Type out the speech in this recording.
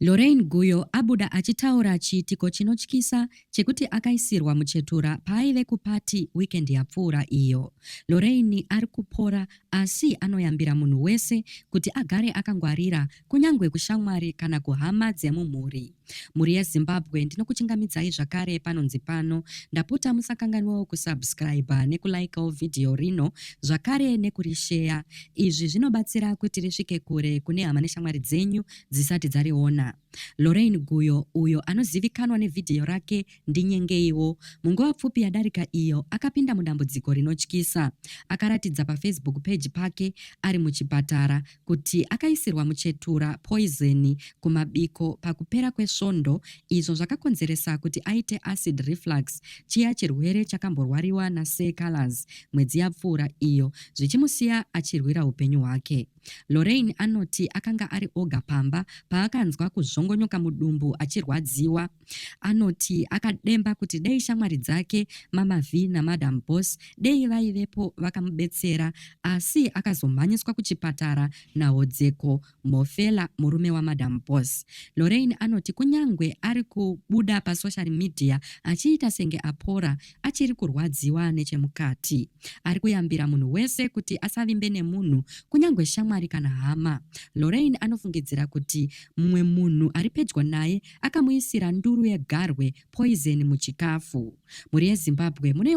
Lorraine Guyo abuda achitaura chiitiko chinotyisa chekuti akaisirwa muchetura paaive kupati weekend yapfuura iyo. Lorraine ari kupora asi anoyambira munhu wese kuti agare akangwarira kunyange kushamwari kana kuhama dzemumhuri. Mhuri yeZimbabwe ndinokuchingamidzai zvakare panonzi pano. Ndapota musakanganwawo kusubscriber nekulikeawo vhidhiyo rino zvakare nekurisheya. Izvi zvinobatsira kuti risvike kure kune hama neshamwari dzenyu dzisati dzariona. Lorraine Guyo, uyo anozivikanwa nevhidhiyo rake Ndinyengeiwo, munguva pfupi yadarika iyo akapinda mudambudziko rinotyisa. Akaratidza paFacebook peji pake ari muchipatara kuti akaisirwa muchetura, poizeni, kumabiko pakupera kwesvondo izvo zvakakonzeresa kuti aite acid reflux, chiya chirwere chakamborwariwa naSir Calaz mwedzi yapfuura iyo zvichimusiya achirwira upenyu hwake. Lorraine anoti akanga ari oga pamba paakanzwa kuzvongonyoka mudumbu achirwadziwa. Anoti akademba kuti dei shamwari dzake Mama V naMadam Boss dei vaivepo vakamubetsera asi akazomhanyiswa kuchipatara nahodzeko Mhofela murume waMadam Boss. Lorraine anoti kunyangwe ari kubuda pasocial media achiita senge apora, achiri kurwadziwa nechemukati. Ari kuyambira munhu wese kuti asavimbe nemunhu, kunyangwe shamwari kana hama. Lorraine anofungidzira kuti mumwe munhu ari pedyo naye akamuisira nduru yegarwe, poison, muchikafu. Mhuri yeZimbabwe mune